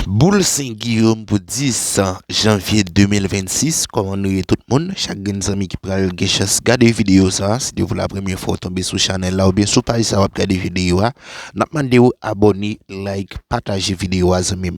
Boule Sen Giyom pou 10 Janvye 2026 Kòman nou ye tout moun chak grenn zanmi ki pral gen chans gade videyo sa si te pou la premye fwa ou tonbe sou chanèl la oubyen sou paj sa wap gade videyo a nap mande ou abòne like pataje videyo a zanmim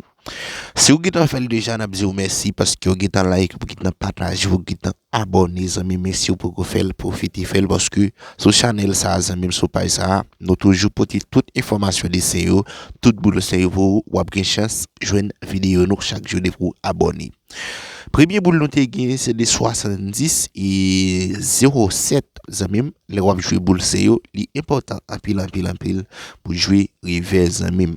si ou gentan fèl deja nap diw mèsi paskew gentan like ou gentan pataje ou gentan Abòne zanmim men siw poko fèl pwofite fèl paske sou chanèl sa zanmim sou paj sa nou toujou pote tout enfòmasyon desen yo tout boul se yo pou ou wap gen chans jwenn videyo nou chak jou depi ou abòne premye boul nou te gen se de 70 e 0 7 zanmim lè wap jwe boul se yo li enpòtan anpil anpil anpil pou jwe revè zanmim.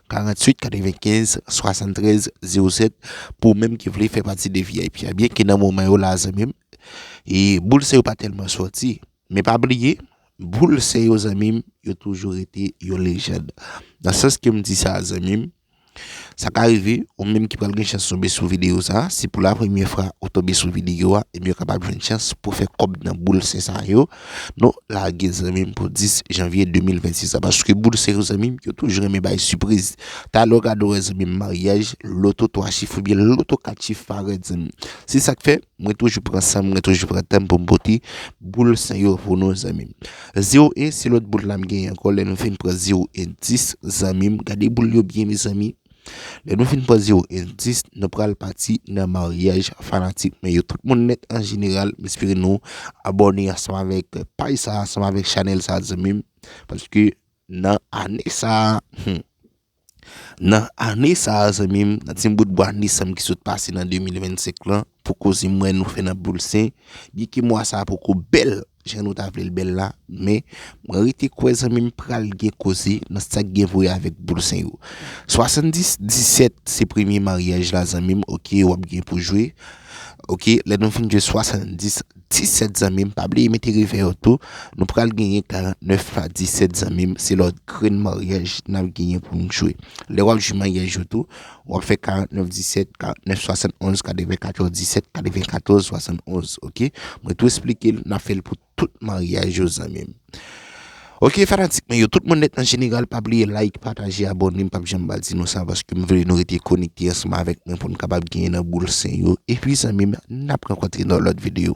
48 95 73 07 pou menm ki vle fè pati de vip a byen ke nan moman yo la zanmim e boul se yo pa tèlman sòti men pa bliye boul se yo zanmim yo toujou rete yo lejand nan sans ke m di sa zanmim sa ka rive ou menm ki pral gen chans tonbe sou video sa se pou la premye fwa ou tonbe sou video a ebyen ou kapab jwenn chans pou fè kòb nan boul se sa yo. Non lage zanmim pou 10 janvier 2026 la paske boul se yon zanmim yo toujou renmen bay sipriz talè w ka do wè zanmim maryaj loto 3 chif oubyen loto 4 chif parèt zanmim se sak fè mwen toujou pran sanm mwen toujou pran tanm poum pote boul sa yo pou nou zanmim 0 1 se lòt boul la m genyen ankò lè nou fin pran 0 1 10 zanmim gade boul yo byen mezanmi. Lè nou fin pran 0 e 10 nou pral pati nan maryaj fanatik mwen yo tout moun nèt an jeneral m espere nou abòne ansanm avèk paj sa ansanm avèk chanèl sa zanmim paske nan ane sa humm nan ane sa zanmim nan ti bout bwa nisanm ki sot pase nan 2025 lan poko zin m wè nou fè nan poul sen byen ke mwa sa poko bèl. Jan nou ta vle l bèl la, men, mwen rete kwè zanmi m pral gen koze nan sa k gen pou wè avèk boul sen yo. 70, 17 se premye maryaj la zanmi m ok w ap gen pou jwe ok lè nou fin jwe 70, 17 zanmi m pa bliye mete revè yo tou nou pral genyen 49 pa 17 zanmi m se lòt grenn maryaj n ap genyen pou n jwe lè w ap jwe maryaj yo tou Wap fè 49 17 49 71 94 17 94 71 ok mwen tou esplike l na fèl pou tout maryaj yo zanmim ok fanatik mwen yo tout moun net an jeneral pa bliye like pataje abone m pap janm pa di nou sa paske m vle nou rete konekte ansanm avèk mwen pou nou kapab genyen nan boul sen yo epi zanmim nap rankontre nan lòt videyo.